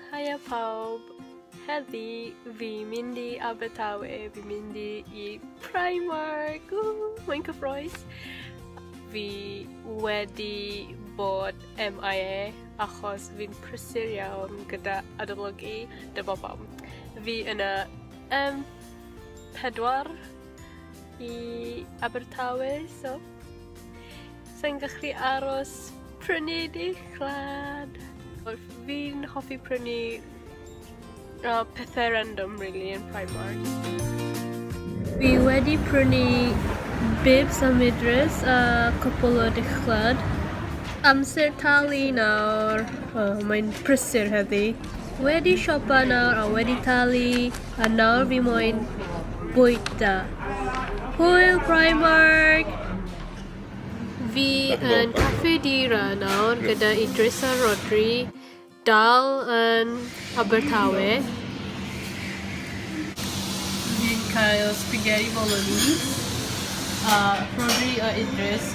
Haia pawb! Heddi fi mynd i Abertawe, fi mynd i, i Primark, ww, mae'n cyffroes! Fi wedi bod MIA achos fi'n prysur iawn gyda adolygu, dyma pam. Fi yn y M4 i Abertawe, so Sa'n gallu aros prynu dichlad. Fi'n hoffi prynu uh, pethau random really yn Primark. Fi wedi prynu bibs a midres a cwpl o dichlad. Amser talu nawr. Oh, mae'n prysur heddi. Wedi siopa nawr a wedi talu. A nawr fi moyn bwyta. Hwyl Primark! Fi yn Caffi Dira nawr gyda Idris a Rodri, dal yn Abertawe. Fi'n cael spaghetti bolognese a Rodri a Idris